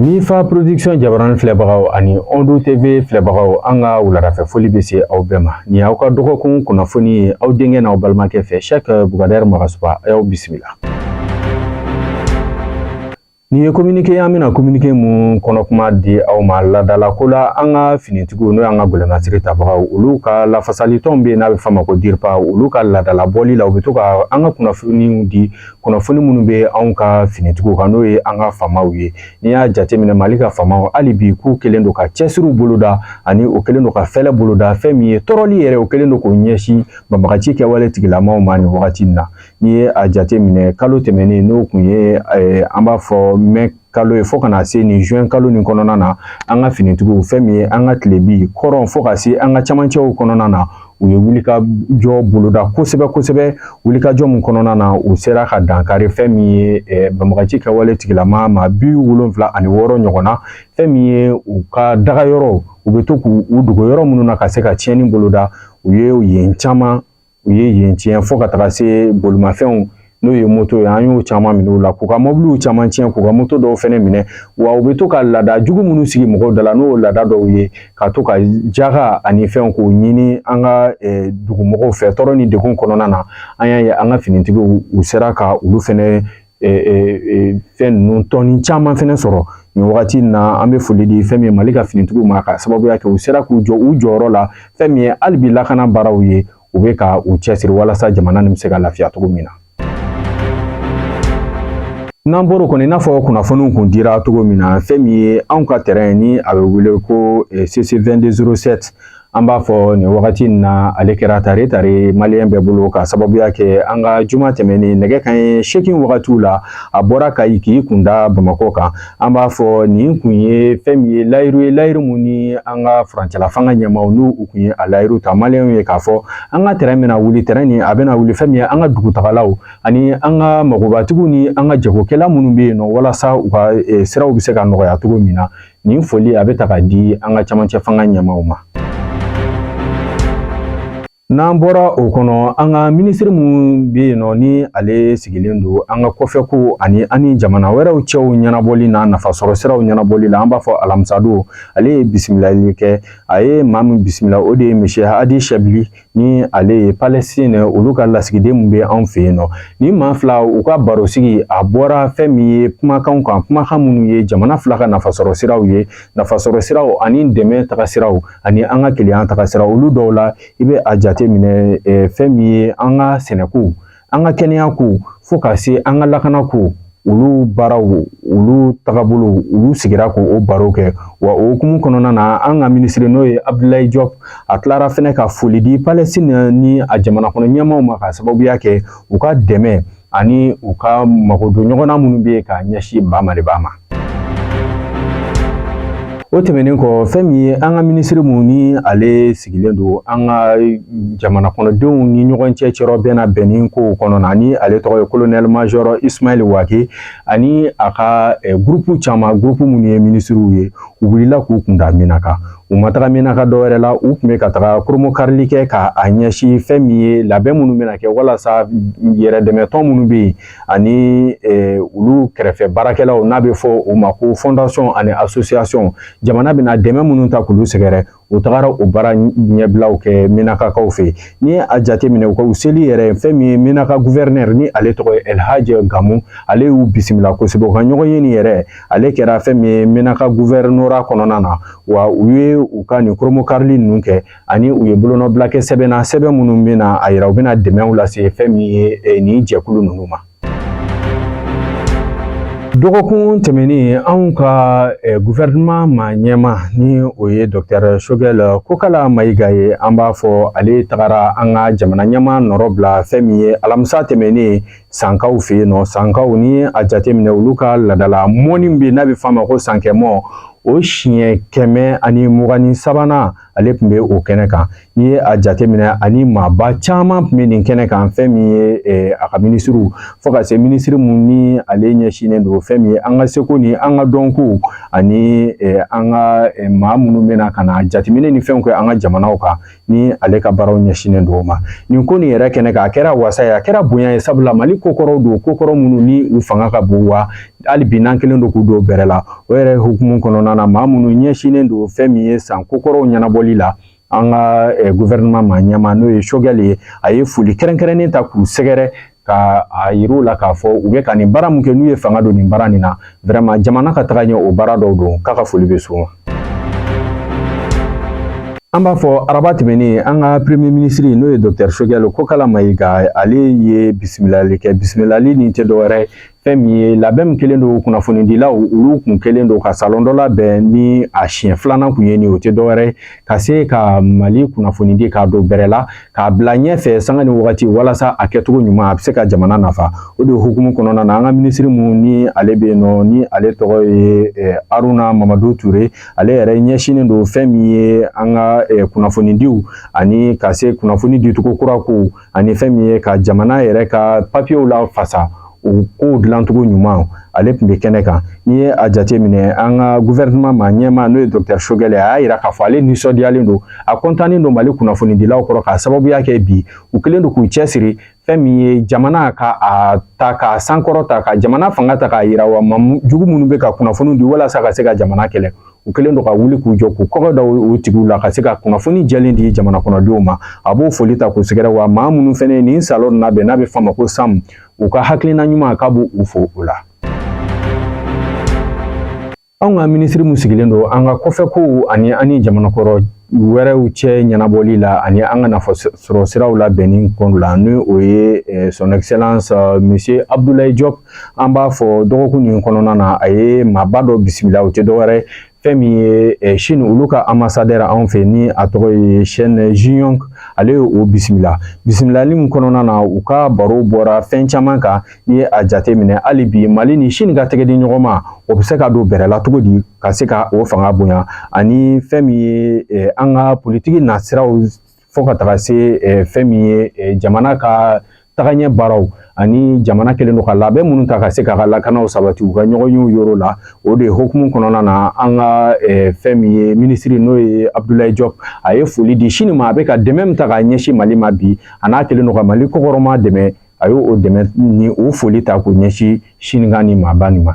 Nifa production jabarani filɛbagaw ani Ondu TV filɛbagaw an ka wuladafɛ foli bɛ se aw bɛɛ ma nin y'aw ka dɔgɔkun kunnafoni ye aw denkɛ n'aw balimakɛ fɛ Sɛki Bugadari Magasuba a y'aw bisimila. Nin ye kominike y'an bɛna kominike mun kɔnɔ kuma di aw ma ladala ko la an ka finitigiw n'o y'an ka gɛlɛnmasiri tabagaw olu ka lafasalitɔn bɛ yen n'a bɛ f'a ma ko diripa olu ka ladala bɔli la u bɛ to ka an ka kunnafoniw di kunnafoni minnu bɛ anw ka finitigiw kan n'o ye an ka faamaw ye n'i y'a jateminɛ mali ka faamaw hali bi k'u kɛlen don ka cɛsiriw boloda ani u kɛlen don ka fɛlɛ boloda fɛn min ye tɔɔrɔli yɛrɛ o kɛlen don k'o ɲɛsin banbagaci kɛwale tigilamaaw ma nin wagati in na n'i ye a jateminɛ kalo tɛmɛnen n'o kun ye an b'a fɔ mɛ kalo ye fo ka na se nin juin kalo nin kɔnɔna na an ka finitigiw fɛn min ye an ka tilebi kɔrɔn fo ka se an ka camancɛw kɔnɔna na u ye wulikajɔ boloda kosɛbɛ kosɛbɛ wulikajɔ min kɔnɔna na u sera ka dankari fɛn min ye eh, banbagaci kɛwale tigilamaa maa bi wolonfila ani wɔɔrɔ ɲɔgɔn na fɛn min ye u ka daga yɔrɔ u bɛ to k'u dogo yɔrɔ minnu na ka se ka tiɲɛni boloda u ye yen caman u ye yen tiɲɛ fo ka taga se bolimafɛnw n'o ye moto ye an y'o caman minɛ u la k'u ka mɔbiliw caman tiɲɛ k'u ka moto dɔw fɛnɛ minɛ wa u bɛ to ka laada jugu minnu sigi mɔgɔw da la n'o laada dɔw ye ka to ka jaga ani fɛnw k'o ɲini an ka dugumɔgɔw fɛ tɔɔrɔ ni degun kɔnɔna na an y'a ye an ka finitigiw u sera ka olu fɛnɛ fɛn ninnu tɔni caman fɛnɛ sɔrɔ nin wagati in na an bɛ foli di fɛn min ye mali ka finitigiw ma ka sababuya kɛ u sera k'u jɔ u jɔyɔrɔ la fɛn min ye hali bi lakana baaraw ye u bɛ ka u cɛsiri walasa jamana nin bɛ se ka lafiya cogo min na n'an bɔr'o kɔnɔ i n'a fɔ kunnafoniw kun dira cogo min na fɛn min ye anw ka tɛrɛn ni a bɛ wele ko cc 2207 An b'a fɔ nin wagati in na ale kɛra tare tare maliyɛn bɛɛ bolo ka sababuya kɛ an ka juma tɛmɛnen nɛgɛ kanɲɛ seegin wagatiw la a bɔra kayi k'i kun da bamakɔ kan an b'a fɔ nin kun ye fɛn min ye layiru ye layiru mun ni an ka furancɛla fanga ɲɛmaaw n'u kun ye a layiru ta maliyɛnw ye k'a fɔ an ka tɛrɛn bɛna wuli tɛrɛn nin a bɛna wuli fɛn min ye an ka dugutagalaw ani an ka magobatigiw ni an ka jagokɛla minnu bɛ yen nɔ walasa u ka eh, siraw bɛ se ka nɔgɔya cogo min na nin foli a bɛ ta ka di an ka camancɛ fanga ɲɛmaaw ma n'an bɔra o kɔnɔ an ka minisiri mun bɛ yen nɔ ni ale sigilen don an ka kɔfɛkow ani an ni jamana wɛrɛw cɛw ɲɛnabɔli n'a nafasɔrɔ siraw ɲɛnabɔli la an b'a fɔ alamisadon ale ye bisimilali kɛ a ye maa min bisimila o de ye monsieur hadi shebli ni ale ye palestine olu ka lasigiden min bɛ anw fɛ yen nɔ nin maa fila u ka barosigi a bɔra fɛn min ye kumakanw kan kumakan minnu ye jamana fila ka nafasɔrɔ siraw ye nafasɔrɔ siraw ani dɛmɛ taga siraw ani an ka kelenya taga siraw olu dɔw la i bɛ a jate minɛ fɛn min ye an ka sɛnɛko an ka kɛnɛya ko fo ka se an ka lakana ko olu baaraw olu tagabolo olu sigira k'o baro kɛ wa o hukumu kɔnɔna na an ka minisiri n'o ye abdulayi jɔp a tilara fɛnɛ ka foli di palɛstina ni a jamana kɔnɔ ɲɛmaaw ma k'a sababuya kɛ u ka dɛmɛ ani u ka magodon ɲɔgɔnna minnu bɛ yen k'a ɲɛsin ba maliba ma o tɛmɛnen kɔ fɛn min ye an ka minisiri mun ni ale sigilen don an ka jamana kɔnɔdenw ni ɲɔgɔn cɛ cɛrɔ bɛn na bɛnni kow kɔnɔna ni ale tɔgɔ ye kolonɛli majɔrɔ ismail wake ani a ka eh, gurupu caman gurupu minnu ye minisiriw ye u wulila k'u kun da minaka u ma taga minaka dɔwɛrɛ la u tun bɛ ka taga koromokarili kɛ ka a ɲɛsin fɛn min ye labɛn minnu bɛna kɛ walasa yɛrɛdɛmɛtɔn minnu bɛ yen ani olu kɛrɛfɛ baarakɛlaw n'a bɛ fɔ o ma ko fɔndasɔn ani asosiyasɔn jamana bɛna dɛmɛ minnu ta k'olu sɛgɛrɛ u tagara o baara ɲɛbilaw kɛ minakakaw fɛ yen n'i ye a jateminɛ u ka u seli yɛrɛ fɛn min ye minaka guvɛrinɛri ni ale tɔgɔ ye elhajɛ gamu ale y'u bisimila kosɛbɛ u ka ɲɔgɔnye nin yɛrɛ ale kɛra fɛn min ye minaka guvɛrinora kɔnɔna na wa u ye u ka nin koromokarili ninnu kɛ ani u ye bolonɔbila kɛ sɛbɛn na sɛbɛn minnu bɛna a yira u bɛna dɛmɛw lase fɛn min ye eh, nin jɛkulu ninnu ma dɔgɔkun tɛmɛnen anw ka eh, guvɛrɛnman ma ɲɛmaa ni o ye dɔktɛr sogɛl kokala mayiga ye an b'a fɔ ale tagara an ka jamana ɲɛmaa nɔrɔ bila fɛn min ye alamisa tɛmɛnen sankaw fɛ yen nɔ sankaw ni a jateminɛ olu ka laadala mɔnni bɛ n'a bɛ f'a ma ko sankɛmɔ o siɲɛ kɛmɛ ani mugan ni sabanan ale tun bɛ o kɛnɛ kan n'i ye a jateminɛ ani maaba caman tun bɛ nin kɛnɛ kan fɛn min ye eh, a ka minisiriw fo ka se minisiri mun ni ale ɲɛsinnen don fɛn min ye an ka seko ni an ka dɔnko ani eh, an ka eh, maa minnu bɛ na ka na jateminɛ ni fɛnw kɛ an ka jamanaw kan ni ale ka baaraw ɲɛsinnen don o ma nin ko nin yɛrɛ kɛnɛ kan a kɛra wasa ye a kɛra bonya ye sabula mali kokɔrɔw don kokɔrɔ minnu ni u fanga ka bon wa hali bi n'an kɛlen don k'u don bɛrɛ la o yɛrɛ hukumu kɔnɔna na maa minnu ɲɛsinnen don fɛn min ye san kokɔrɔw ɲɛnabɔli la an ka eh, gouvernement ma ɲɛmaa n'o ye sogɛli ye a ye foli kɛrɛnkɛrɛnnen ta k'u sɛgɛrɛ ka a yir'u la k'a fɔ u bɛ ka nin baara min kɛ n'u ye fanga don nin baara nin na vraiment jamana ka tagaɲɛ o baara dɔw don k'a ka foli bɛ s'u ma an b'a fɔ araba tɛmɛnen an ka premier ministre n'o ye docteur sogɛli kokala mayiga ale ye bisimilali kɛ bisimilali nin tɛ dɔwɛrɛ ye fɛn min ye labɛn min kɛlen don kunnafonidilaw olu kun kɛlen don ka salon dɔ labɛn ni a siɲɛ filanan kun ye nin o tɛ dɔwɛrɛ ka se ka mali kunnafonidi k'a don bɛrɛ la k'a bila ɲɛfɛ sanga ni wagati walasa a kɛcogo ɲuman a bɛ se ka jamana nafa o de hukumu kɔnɔna na an ka minisiri min ni ale bɛ yen nɔ ni ale tɔgɔ ye eh, aruna mamadu ture ale yɛrɛ ɲɛsinnen don fɛn min ye an ka eh, kunnafonidiw ani ka se kunnafoni dicogo kura ko ani fɛn min ye ka jamana yɛrɛ ka papiyew lafasa o kow dilancogo ɲuman ale tun bɛ kɛnɛ kan n'i ye a jateminɛ an ka guvɛrɛnɛman ma ɲɛmaa n'o ye dɔkitɛri sogɛlɛ a y'a yira k'a fɔ ale nisɔndiyalen don a kɔntannen don mali kunnafonidilaw kɔrɔ k'a sababuya kɛ bi u kɛlen don k'u cɛsiri fɛn min ye jamana ka a ta k'a sankɔrɔta ka jamana fanga ta k'a yira wa jugu minnu bɛ ka kunnafoni di walasa ka se ka jamana kɛlɛ u kɛlen don ka wuli k'u jɔ k'u kɔgɔ da o tigiw la ka se ka kunnafoni jɛlen di jamana kɔnɔdenw ma a b'o foli ta k'u sɛgɛrɛ wa maa minnu fɛnɛ ye nin salon labɛn n'a bɛ f'a ma ko sam u ka hakilina ɲuman k'a b'u fo o la anw ka minisiri min sigilen don an ka kɔfɛ kow ani an ni jamanakɔrɔ wɛrɛw cɛ ɲɛnabɔli la ani an ka nafa sɔrɔ siraw labɛnni kɔnɔ la ni o ye eh, son excellence eh, monsieur abdoulaye diop an b'a fɔ dɔgɔkun nin kɔnɔna na a ye maaba dɔ bisimila o tɛ dɔwɛrɛ fɛn min ye eh, sini olu ka anbasadɛri anw fɛ ni a tɔgɔ ye sɛn jiyɔn ale ye o bisimila bisimilali min kɔnɔna na u ka baro bɔra fɛn caman kan n'i ye a jate minɛ hali bi mali ni sini ka tɛgɛdiɲɔgɔnma o bɛ se ka don bɛrɛ la cogo di ka se ka o fanga bonya ani fɛn min ye eh, an ka politiki nasiraw fo ka taga se fɛn min ye jamana ka tagaɲɛ baaraw ani jamana kɛlen don ka labɛn minnu ta ka se k'a ka lakanaw sabati u ka ɲɔgɔn y'o yɔrɔ la o de hukumu kɔnɔna na an ka eh, fɛn min ye minisiri n'o ye abdulayi jɔp a ye foli di sini ma a bɛ ka dɛmɛ min ta k'a ɲɛsin mali ma bi an'a kɛlen don ka mali kɔkɔrɔma dɛmɛ a y'o dɛmɛ ni o foli ta k'o ɲɛsin sini ka nin maaba nin ma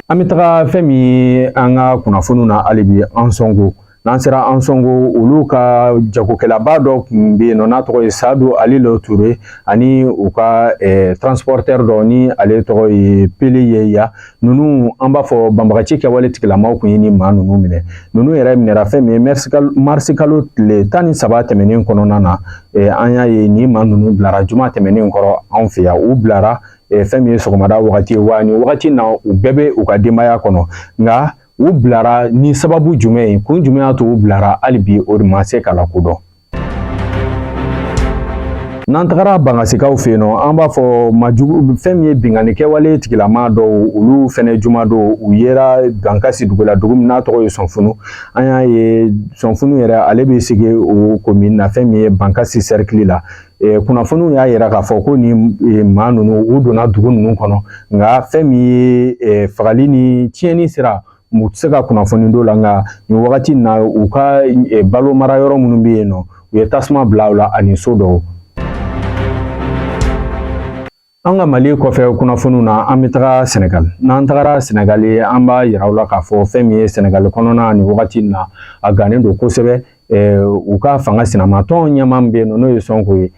an bɛ taga fɛn min ye an ka kunnafoniw na hali bi ansɔngo n'an sera ansɔngo olu ka jagokɛlaba dɔ tun bɛ yen nɔ n'a tɔgɔ ye sadu ali lo ture ani u ka eh, transportɛr dɔ ni ale tɔgɔ ye pele yeya ninnu an b'a fɔ banbagaci kɛwale tigilamaw tun ye nin maa ninnu minɛ ninnu yɛrɛ minɛra fɛn min ye marisi kalo tile tan ni saba tɛmɛnen kɔnɔna na eh, an y'a ye nin maa ninnu bilara juma tɛmɛnen kɔrɔ anw fɛ yan u bilara eh, fɛn min ye sɔgɔmada wagati ye wa nin wagati na u bɛɛ bɛ u ka denbaya kɔnɔ nka u bilara ni sababu jumɛn ye kun jumɛn y'a to u bilara hali bi o de ma se ka lakodɔn n'an tagara bankasikaw fɛ yen nɔ an b'a fɔ majugu fɛn min ye binkanni kɛwale tigilama dɔw olu fɛnɛ juma don u yera bankasi dugu la dugu min n'a tɔgɔ ye sɔnfunu an y'a ye sɔnfunu yɛrɛ ale bɛ sege o komin na fɛn min ye bankasi sɛrikili la kunnafoniw y'a yira k'a fɔ ko nin maa ninnu u donna dugu ninnu kɔnɔ nka fɛn min ye fagali ni tiɲɛni sira u tɛ se ka kunnafoni dɔ la nka nin wagati in na u ka balo mara yɔrɔ minnu bɛ yen nɔ u ye tasuma bila u la ani so dɔw An ka mali kɔfɛ kunnafoniw na an bɛ taga sɛnɛgali n'an tagara sɛnɛgali an b'a yira aw la k'a fɔ fɛn min ye sɛnɛgali kɔnɔna nin wagati in na a gannen don kosɛbɛ u ka fanga sinamatɔn ɲɛmaa min bɛ yen nɔ n'o ye sɔnko ye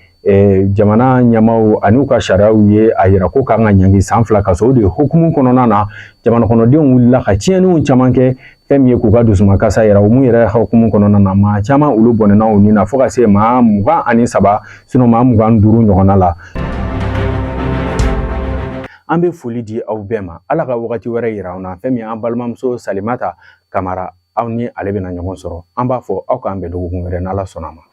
jamana ɲɛmaaw ani u ka sariyaw ye a yira ko kan ka ɲangi san fila kaso o de hukumu kɔnɔna na jamanakɔnɔdenw wulila ka tiɲɛniw caman kɛ fɛn min ye k'u ka dusumakasi yira o mun yɛrɛ hukumu kɔnɔna na maa caman olu bɔnɛna u ni na fo ka se maa mugan ani saba sinon maa mugan ni duuru ɲɔgɔnna la an bɛ foli di aw bɛɛ ma ala ka wagati wɛrɛ yira an na fɛn min ye an balimamuso salimata kamara aw ni ale bɛna ɲɔgɔn sɔrɔ an b'a fɔ aw k'an bɛn dɔgɔkun wɛrɛ n'ala sɔnna ma